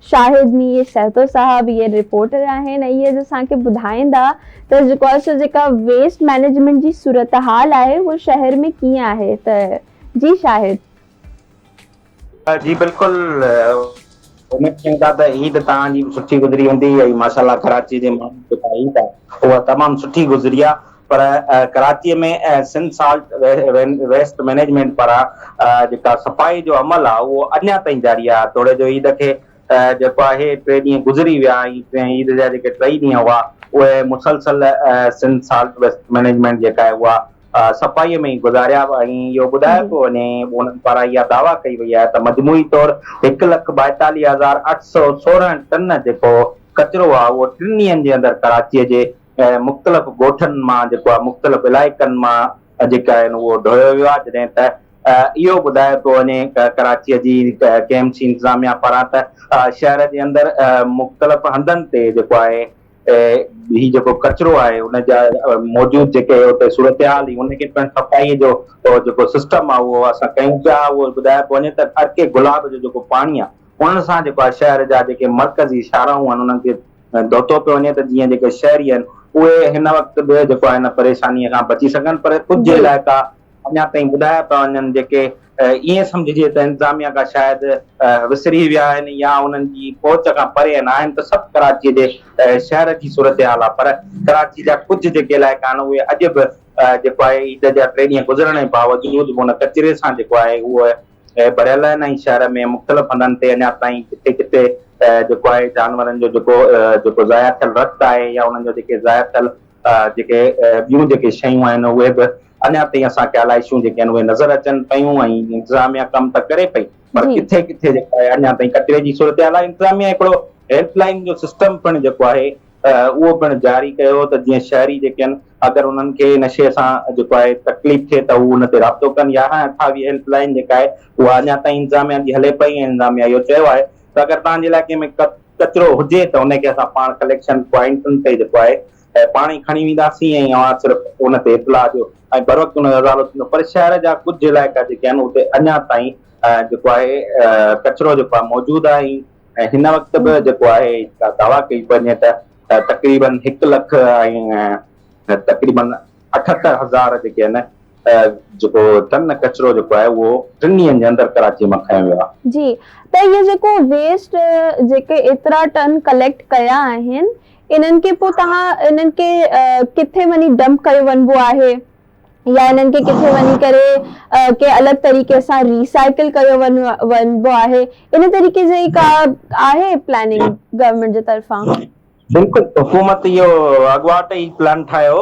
شاهد مير سهتو صاحب اهي رپورٽر آهن ۽ اهي اسان کي ٻڌائيندا ته جيڪو سو جيڪا ويسٽ مئنيجمينٽ جي صورتحال آهي اهو شهر ۾ ڪيئن آهي ته جي شاهد. جي بلڪل اميد ڪيون ٿا ته عيد توهان جي به سٺي گذري هوندي ۽ ماشاءالله ڪراچي جي ماڻهن جي لاء عيد آهي اها تمام سٺي گذري آهي. پر Karachi ۾ Sindh solid waste management پاران جيڪا صفائي جو عمل آ اهو اڃا تائين جاري آ توڙي جو عيد کي جيڪو آهي ٽي ڏينهن گذري ويا ۽ عيد جا جيڪي ٽئي ڏينهن هئا اهي مسلسل سنڌ سالٽ ويسٽ مئنيجمينٽ جيڪا آهي اها صفائي ۾ ئي گذاريا ۽ اهو ٻڌايو پيو وڃي انهن پاران اها دعويٰ ڪئي وئي آهي ته مجموعي طور هڪ لک ٻائيتاليهه هزار اٺ سؤ سورهن ٽن جيڪو ڪچرو آ اهو ٽن ڏينهن جي اندر ڪراچي جي مختلف ڳوٺن مان جيڪو آهي مختلف علائقن مان جيڪي آهن اهو ڍويو ويو آهي جڏهن ته اهو ٻڌايو پيو وڃي ڪراچي جي ڪي ايم سي انتظاميا پاران ته شهر جي اندر مختلف هنڌن تي جيڪو آهي هي جيڪو ڪچرو آهي ان جا موجود جيڪي اتي صورتحال هي ان کي پڻ صفائي جو جيڪو سسٽم آهي اهو اسان ڪيون پيا اهو ٻڌايو پيو وڃي ته ارڪي گلاب جو جيڪو پاڻي آهي ان سان جيڪو آهي شهر جا جيڪي مرڪزي شاهراهون آهن انهن کي دوتو پيو وڃي ته جيئن جيڪي شهري آهن اهي هن وقت به جيڪو آهي ان پريشانيء کان بچي سگهن پر ڪجهه علائقا اڃا تائين ٻڌايا پيا وڃن جيڪي ائين سمجهجي ته انتظاميا کان شايد وسري ويا آهن يا انهن جي پهچ کان پري آهن آهن ته سڀ ڪراچيء جي شهر جي صورتحال آهي پر ڪراچيء جا ڪجهه جيڪي علائقا آهن اهي اڄ به جيڪو آهي عيد جا ٽي ڏينهن گذرڻ جي باوجود به ان ڪچري سان جيڪو آهي اهو اهي ڀريل آهن ۽ شهر ۾ مختلف هنڌن تي اڃا تائين ڪٿي ڪٿي جيڪو آهي جانورن جو جيڪو جيڪو ضايع ٿيل رت آهي يا انهن جو جيڪي ضايع ٿيل جيڪي ٻيون جيڪي شيون آهن اهي به اڃا تائين اسان کي الائشون جيڪي آهن اهي نظر اچن پيون ۽ انتظاميا ڪم ته ڪري پئي پر ڪٿي ڪٿي جيڪو آهي اڃا تائين ڪچري جي صورتحال آهي انتظاميا هڪڙو هيلپ لائين جو سسٽم پڻ جيڪو آهي اهو پڻ جاري ڪيو ته جيئن شهري جيڪي آهن اگر انهن کي ان شيء سان جيڪو آهي تڪليف ٿئي ته هو ان تي رابطو ڪن. يارهن اٺاويهه هيلپ لائين جيڪا آهي اها اڃا تائين انتظاميا جي هلي پئي ۽ انتظاميا اهو چيو آهي ته اگر توهان جي علائقي ۾ ڪچرو هجي ته ان کي اسان پاڻ ڪليڪشن پوائنٽن تي جيڪو آهي پاڻ ئي کڻي وينداسين ۽ اوهان صرف ان تي اطلاع ڏيو ۽ بروقت ان جو ازالو ٿيندو پر شهر جا ڪجهه علائقا جيڪي آهن اتي اڃا تائين جيڪو آهي ڪچرو جيڪو آهي موجود آهي ۽ هن وقت به جيڪو آهي دعويٰ ڪئي پئي وڃي ته ته تقريبن هڪ لک ۽ تقريبن اٺهتر هزار جيڪي آهن جيڪو ٽن ڪچرو جيڪو آهي اهو ٽن ڏينهن جي اندر ڪراچي مان کنيو ويو آهي. جي ته اهي جيڪو ويسٽ جيڪي ايترا ٽن ڪليڪٽ ڪيا آهن انهن کي پوء توهان انهن کي ڪٿي وڃي ڊمپ ڪيو وڃبو آهي؟ يا انهن کي ڪٿي وڃي ڪري ڪنهن الڳ طريقي سان ري سائيڪل ڪيو وڃبو آهي ان طريقي جي ڪا آهي پلاننگ گورنمينٽ جي طرفان؟ بلڪل حڪومت اهو اڳواٽ ئي پلان ٺاهيو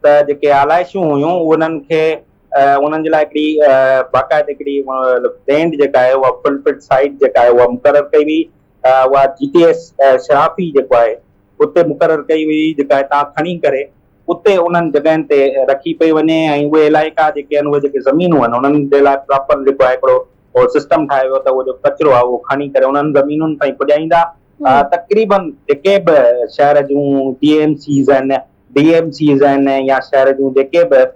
ته جيڪي آلائشون هيون انهن کي انهن جي لاء هڪڙي باقاعده هڪڙي بينڊ جيڪا آهي اها فل فٽ سائيڊ جيڪا آهي اها مقرر ڪئي وئي اها جي ٽي ايس شرافي جيڪو آهي اتي مقرر ڪئي وئي جيڪا هتان کڻي ڪري اتي انهن جڳهين تي رکي پئي وڃي ۽ اهي علائقا جيڪي آهن اهي جيڪي زمينون آهن انهن جي لاء پراپر جيڪو آهي هڪڙو سسٽم ٺاهيو ويو ته اهو جيڪو ڪچرو آهي اهو کڻي ڪري انهن زمينن تائين پڄائيندا تقريبن جيڪي به شهر جون ٽي ايم سيز آهن ڊي ايم سيز آهن يا شهر جون جيڪي به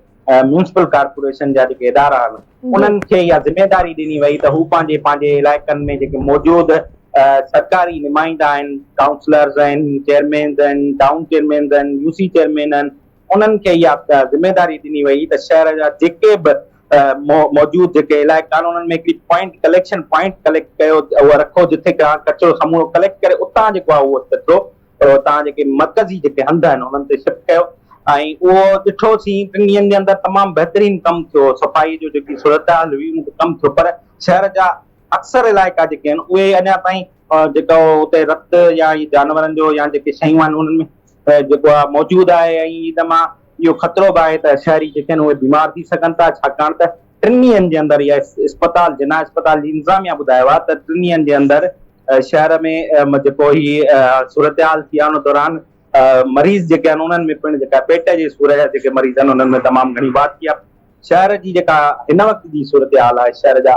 ميونسپل ڪارپوريشن جا جيڪي ادارا آهن انهن کي اها ذميواري ڏني وئي ته هو پنهنجي پنهنجي علائقن ۾ جيڪي موجود سرڪاري نمائندا آهن ڪائونسلرز آهن چيئرمينز آهن ٽائون چيئرمينز آهن يو سي چيئرمين آهن انهن کي اها ذميواري ڏني وئي ته شهر جا جيڪي به موجود جيڪي علائقا آهن انهن ۾ هڪڙي پوائنٽ ڪليڪشن پوائنٽ ڪليڪٽ ڪيو اهو رکو جتي ڪچرو سمورو ڪليڪٽ ڪري اتان جيڪو آهي اهو ڪچرو پر اتان جيڪي مرڪزي جيڪي هنڌ آهن انهن تي شفٽ ڪيو ۽ اهو ڏٺو سين ٽن ڏينهن جي اندر تمام بهترين ڪم ٿيو صفائي جو جيڪي صورتحال هئي ان تي ڪم ٿيو پر شهر جا اڪثر علائقا جيڪي آهن اهي اڃا تائين جيڪو اتي رت يا اهي جانورن جو يا جيڪي شيون آهن انهن ۾ جيڪو آهي موجود آهي ۽ ان مان اهو خطرو به آهي ته شهري جيڪي آهن اهي بيمار ٿي سگهن ٿا ڇاڪاڻ ته ٽن ڏينهن جي اندر يا اسپتال جناح اسپتال جي انتظاميا ٻڌايو آهي ته ٽن ڏينهن جي اندر شهر ۾ جيڪو هي صورتحال ٿي آهي ان دوران مريض جيڪي آهن انهن ۾ پڻ جيڪا پيٽ جي سور جا جيڪي مريض آهن انهن ۾ تمام گهڻي واڌ ٿي آهي شهر جي جيڪا هن وقت جي صورتحال آهي شهر جا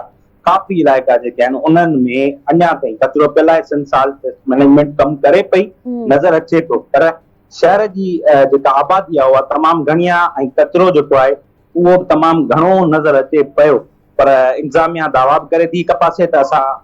ڪافي علائقا جيڪي آهن انهن ۾ اڃا تائين ڪچرو پيل آهي سنڌ سالٽ ويسٽ مئنيجمينٽ ڪم ڪري پئي نظر اچي ٿو پر شهر جي جيڪا آبادي آهي اها تمام گهڻي آهي ۽ ڪچرو جيڪو آهي اهو به تمام گهڻو نظر اچي پيو پر انتظاميا دعويٰ به ڪري ٿي هڪ پاسي ته اسان